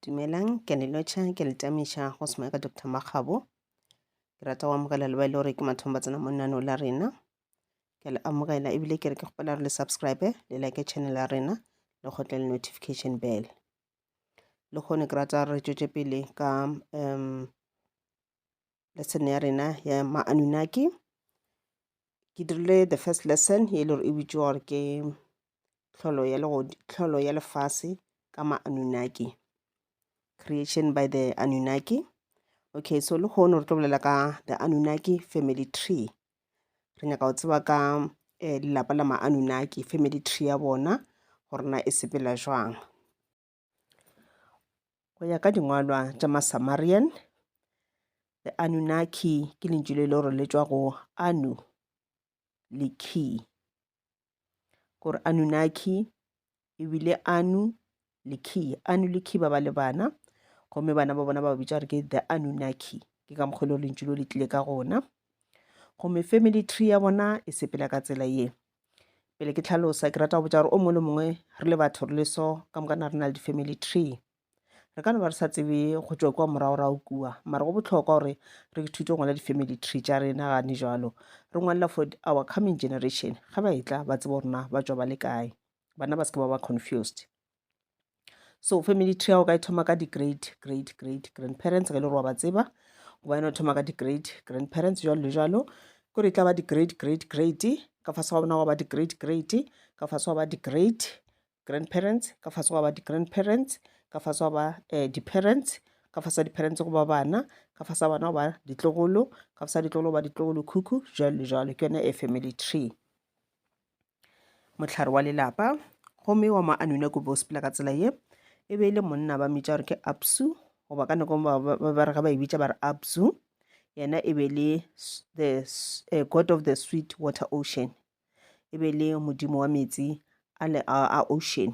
Dumelang, ke a le lotšha, ke a le tamiša go se ka Doctor Makgabo. Ke rata go amogela le ba e le gore ke mathomo ba tsena mo naano la rena. Ke a le amogela ebile ke re ke kgopela gore le subscribe le like channel ya rena le kgotle le notification bell. Le kgone ke rata re tšwetše pele ka um lesson ya rena ya ma-anunnaki ke dirile the first lesson e le gore e bitšwa gore ke tlholo ya tlholo ya lefase ka ma-anunnaki creation by the anunnaki okay so le kgone re tlo bolela ka the anunnaki family tree re nyaka go tseba ka eh, lelapa la ma-anunnaki family tree ya bona gore na e sepela jwang Go ya ka dingwalwa tša Masamarian, the Anunnaki ke lentšu le le gore le tšwa go Anu le Ki. Gore Anunnaki e bile Anu le Ki. Anu le Ki ba ba le bana, gomme bana ba bona ba bitša gore ke the Anunnaki. Ke ka mokgwa e le gore lentšu lo le tlile ka gona. Gomme family tree ya bona e sepela ka tsela ye. pele ke tlhalosa ke rata go botsa gore o mongwe le mongwe re le batho re le so ka moka na re na le di-family tree re ka no ba re sa tsebe go tswa kwa moragorago kua mara go botlhokwa gore re ithute go ngwala di-family tree tša rena gane jalo re ngwalela for our coming generation ga ba e tla ba tsebo rona ba tswa ba le kae bana ba se ke ba ba confused so family tree o ka e thoma ka di-great great great grandparents ge le gore wa ba tseba goba yone o thoma ka di-great grandparents jalo le jalo kore e tla ba di-great great great ka fase ga bona wa ba di-great great ka fase wa ba di-great grandparents ka fase wa ba di-grandparents ka fase wa ba um di-parents ka fasa di-parents go ba bana ka fasa bana go ba ditlogolo ka fasa ditlogolo go ba ditlogolo khukhu jalo le jalo ke yone a family tree mohlare wa lelapa gomme wa mo anune ko bo sepela ka tsela ye e be e le monna ba mmitša gore ke absu goba ka nako ba re ge ba e bitša ba re absu yena e be le the uh, god of the sweet water ocean e be le modimo wa metsi a, le, a, a ocean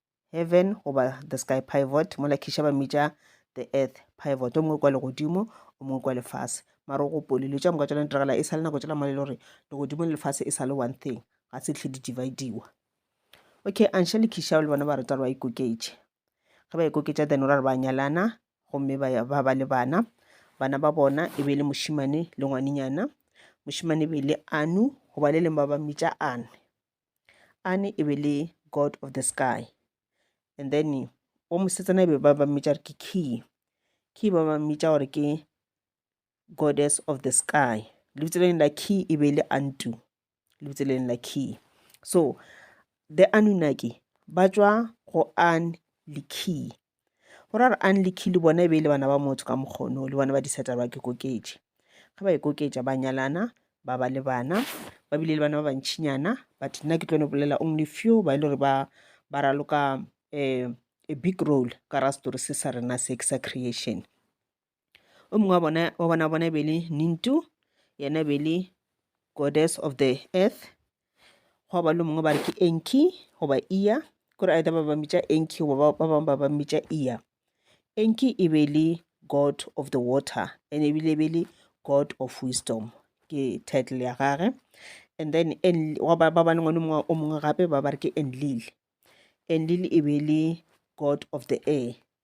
heaven goba the sky pivot mola khiša ba mmitša the earth pivot o mongwe kwa legodimo o mongwe kwa lefase mara o gopole dilo tša moka tsona diragala e sa le nako tsela male le gore legodimo le lefase e sa le one thing ga se tlhe di-divadiwa okay anša le khišao le bona ba reta re ba ikoketše ge ba ikoketša then o ra re ba nyalana gomme ba ba le bana bana ba bona e be e le mošimane le ngwanenyana mošimane e be e le anu goba le leng ba ba mmitša ane Ane e be le god of the sky and then wa mosetsana e be ba ba mmitša gore ke key key ba ba mmitša gore ke goddess of the sky lebitso le leng la key e be le antu lebitso le leng la key so the anunaki ba tšwa go an le key Go ra gore Anlikhi le bona e be e le bana ba motho ka mokgono le bona ba disata ba ke koketše. Ge ba ikoketša ba nyalana, ba ba le bana, ba bile le bana ba bantšhinyana, but nna ke tlo no bolela only few ba e le gore ba ba raloka um a big role ka ra story se sa rena se ke sa creation. o mongwe wa bona wa bona bona be le nintu yena be le goddess of the earth gwa ba le mongwe ba re ke enki goba iya kore either ba ba mmitša enki goba ba ba bangwe ba ba mmitša iya enki e be le god of the water and ebile e be le god of wisdom ke title ya gage and then ba ba le ngwane mongwe o mongwe gape ba ba re ke enlil enlil e be le god of the air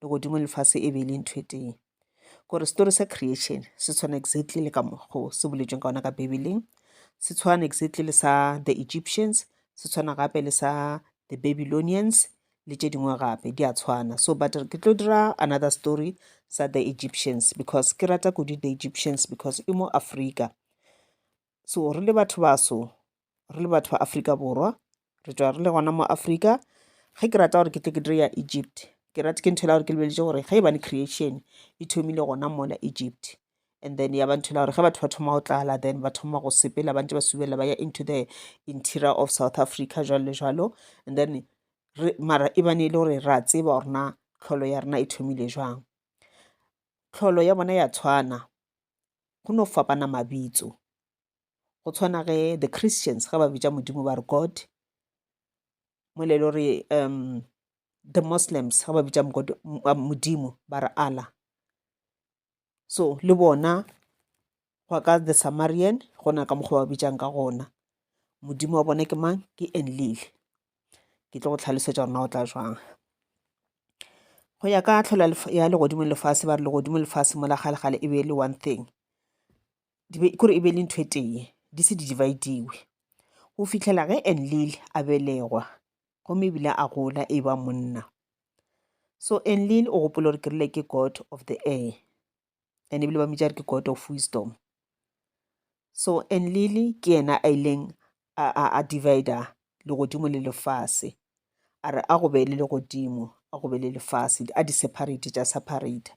legodimo le lefase e be e le ntho e tee gore story sa creation se tshwana exactly le ka mokgo se boletsweng ka ona ka bibeleng se tshwana exactly le sa the egyptians se tshwana gape le sa the babylonians le tše dingwe gape di a tshwana so but ke tlo dira another story sa the egyptians because ke rata kudu the egyptians because e mo africa so re le batho baso re le batho ba afrika borwa re tšwa re le gona mo afrika ge ke rata gore ke tle ke dire ya egypt ke rate ke ntho e la gore ke lebeletše gore ge e bane creation e thomile gona mola egypt and then ya ba ntho e la gore ge batho ba thoma go tlala then ba thoma go sepela ba ntse ba subelela ba ya into the interior of south africa jalo le jalo and then mara e bane e le gore ra tseba gore na tlholo ya rena e thomile jwang tlholo ya bona ya tshwana go no fapana mabitso go tshwana ge the christians ge ba bitša modimo ba re god mo le lo re um the muslims ge ba bitša modimo ba re allah so le bona go ka the samarian gona ka mokgwa ba bitšang ka gona modimo wa bona ke mang ke enlile ke tlo go tlhalosetša gore na o tla jwang go ya ka tlholo ya legodimo lefase ba re legodimo lefase mo la galegale e be e le one thing kore e be e le ntho e tee di se di divide-iwe go fitlhela ge enlil a belegwa gomme ebile a gola e ba monna so enlil o gopola gore ke rile ke god of the air and ebile ba mmitša re ke god of wisdom so and lily ke yena a ileng a, a, a divider legodimo le lefase a re a go be le legodimo a go be le lefase a di separate tša separate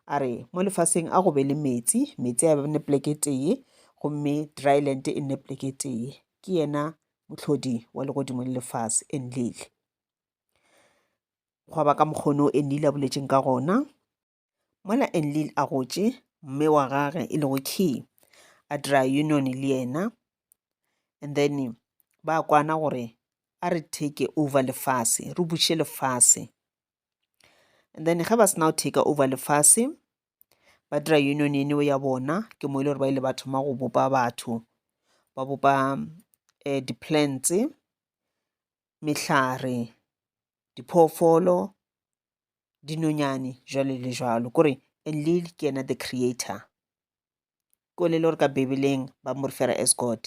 a re mo lefaseng a go be le metsi metsi a bene pleke tee gomme dryland e nne pleke tee ke yena mohlodi wa legodimo le lefase e nlele gwa ba ka mokgono e nnile a boletšeng ka gona Mola Enlil a gotše, mme wa gage e lego Key a dira union le yena, and then ba kwana gore a re take over lefase, re buše lefase. And then ge ba sena go take over lefase, ba dira union eno ya bona, ke mo e le gore ba ile ba thoma go bopa batho, ba bopa um di-plants, mehlare, diphoofolo, dinonyane jwalo le jwalo kore enlil ke yena the creator ko le le gore ka bibeleng ba mo refera as god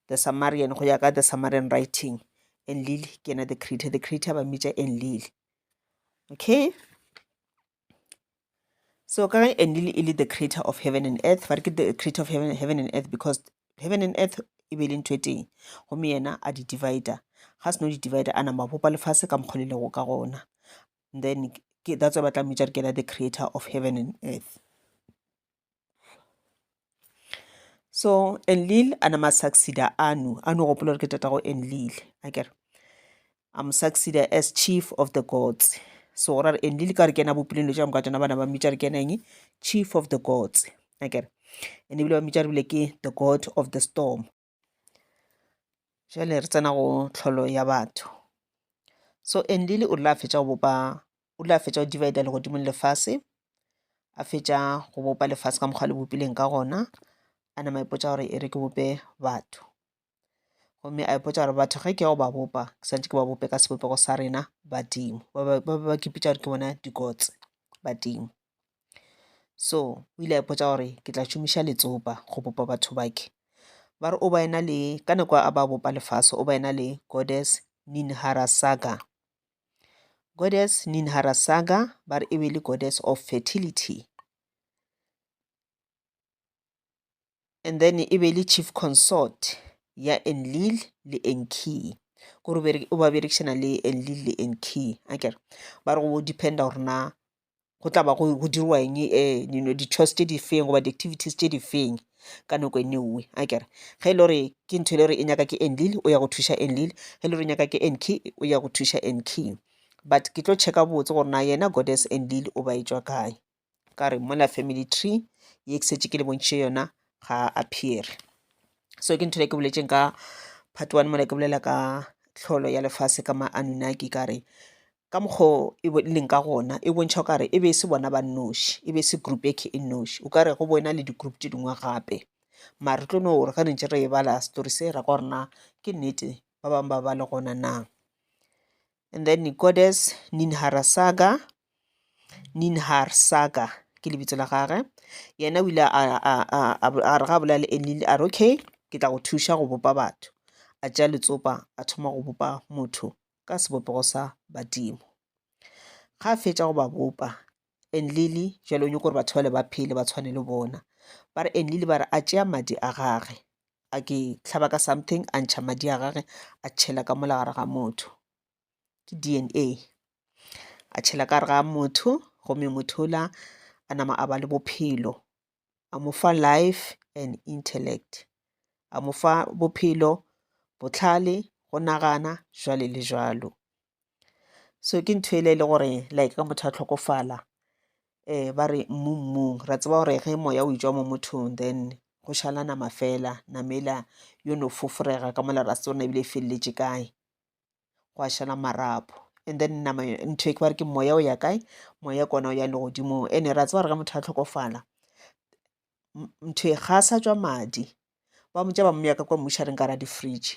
the samarian go ya ka the samarian writing enlil ke yena the creator the creator ba mmitša enlil okay so ka ge enlil e le the creator of heaven and earth ba re ke the creator of heaven, heaven and earth because heaven and earth e be e le ntho e teng gomme yena a di divider ga seno di divider a nama bopa lefase ka mokgwa le lego ka gona then ke that's why ba tla mmitša re ke the creator of heaven and earth so enlil a nama succeda anu anu gopola gore ke tatago enlil a kere a mo succeda as chief of the gods so go rare and le le ka re kena bopileng lo tša moka tšona bana ba mmitša re kena eng chief of the gods akere and ebile ba mmitša re bile ke the god of the storm jale re tsena go tlholo ya batho so enlile o rile a fetša go bopa o rile a fetša go divida legodimong lefase a fetša go bopa lefase ka mokgwa le bopileng ka gona a nama ipotsa gore e re ke bope batho gomme a ipotsa gore batho ge ke ya go ba bopa ke santse ke ba bope ka sebopego sa rena badimo ba be ba kipitša gore ke bona dikotse badimo so o ile a ipotsa gore ke tla šomiša letsopa go bopa batho bake ba re o ba ena le ka nako a ba bopa lefase o ba ena le goddess ninhara saga goddess ninhara saga ba re e be le goddess of fertility and then e be le chief consort ya enlil le enkey gore o ba berekišana le enlil le enkey a kere ba re go dependa gore na go tla ba go dirwa eng um you know di-chores tse di feng goba di-activities tse di feng ka nako e newe a kere ge e le gore ke ntho e le gore e nyaka ke enlil o ya go thuša enlil ge e le gore e nyaka ke enkey o ya go thuša enkey but ke tlo checka botse gore na yena goddess enlil o ba e tswa kae ka re mola family tree ye ke setse ke le bontšhe yona ga a appeare so ke ntho le ke boletseng ka part one mola ke bolela ka tlholo ya lefase ka ma anunaki ka re ka mokgo e leng ka gona e bontšha o kare e be e se bona ba nnoši e be e se group eke e nnoši o kare go boena le di-group tse dingwe gape mare re tlo no gore ge re ntse re e bala story se ra kwa gore na ke nnete ba bangwe ba ba le gona na and then goddess Ninharasaga, Ninharsaga ke lebitso la gage yena o ile a re ga bolela le Enlil a re okay ke tla go thuša go bopa batho a tšea letsopa a thoma go bopa motho ka sebopego sa badimo ga a fetša go ba bopa Enlili jalo o nyoko gore batho bale ba phele ba tshwane le bona ba re Enlili ba re a tšea madi a gage a ke tlhaba ka something a ntšha madi a gage a tšhela ka mola gare ga motho ke DNA a tšhela ka gare ga motho gomme motho ola a nama a ba le bophelo a mo fa life and intellect a mo fa bophelo botlhale go nagana jwale le jwalo so ke ntho ele e le gore like ka motho a tlhokofala um ba re mmu mmung ra tseba gore ge moya o itswa mo mothong then go šala nama fela namela yo no fofurega ka mola ra se tsona ebile e feleletše kae go a šala marapo and then nama ntho e ke bare ke moya o ya kae moya kona o ya legodimong ene ra tseba gore ge motho a tlhokofala ntho e ga sa tswa madi ba motša ba moya ka kwa mmušareng ka ra di-fridge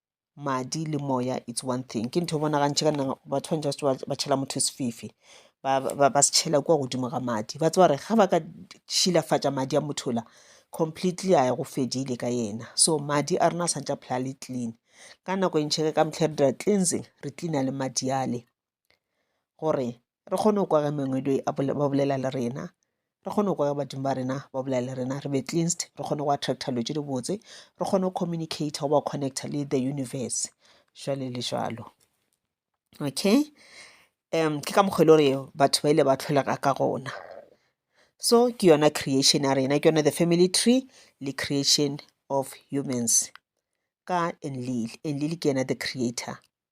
madi le moya it's one thing ke ntho e bonagantšhe ka nna batho ba ntse ba ba tšhela motho sefifi ba ba ba se tšhela kua godimo ga madi ba tseba gore ga ba ka šilafatša madi a motho la completely a ya go fedile ka yena so madi a rena a santse a phela le clean ka nako e ntšhe ka mehla re dira cleansing re cleana le madi ale gore re kgone go kwa ge mangweding a ba bolela le rena, re kgone go kwa ge badimo ba rena ba bolela le rena, re be cleansed, re kgone go attractor dilo tse dibotse, re kgone go communicator go ba connector le the universe jwale le jwalo. Okay, ke ka mokgo e le gore batho ba ile ba tlholega ka gona. So ke yona creation ya rena, ke yone the family tree le creation of humans ka Enlil. Enlil ke yena the creator.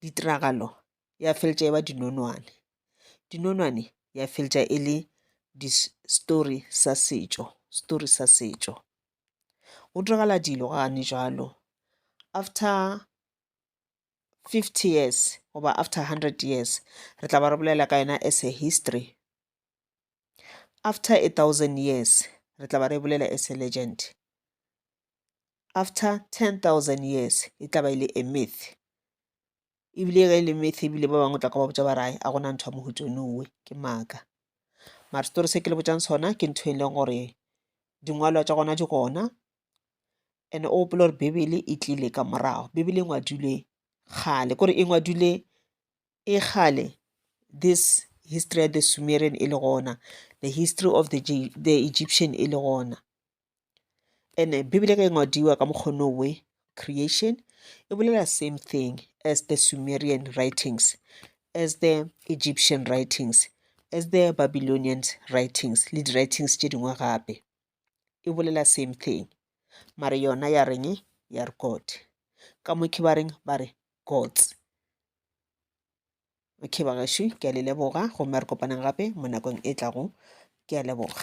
Ditiragalo ya feletša e ba dinonwane. Dinonwane ya feletša e le di story sa setšo, story sa setšo. Go diragala dilo gane jwalo after fifty years goba after hundred years re tla ba re bolela ka yona as a history. After a thousand years re tla ba re bolela as a legend. after 10,000 years e tla ba e le a myth ebile ge e le myth ebile ba bangwe tla ka ba botsa ba rae a gona ntho ya mohuto nowe ke maaka mara story se ke le botsang sona ke ntho e leng gore dingwalwa tša gona di gona and o gopola gore bibele e tlile ka morago bibele e ngwadilwe kgale kore e ngwadilwe e kgale this history ya the sumerian e le gona the history of the, the egyptian e le gona ene bibele ge e ngwadiwa ka mokgono we creation e bolela same thing as the sumerian writings as the egyptian writings as the babylonian writings le di-writings tše dingwe gape e bolela same thing mare yona ya reng ya re god ka mokhe ba reng ba re gods okay ba gašwi ke a le leboga gomme re kopaneng gape mo nakong e tlago ke a leboga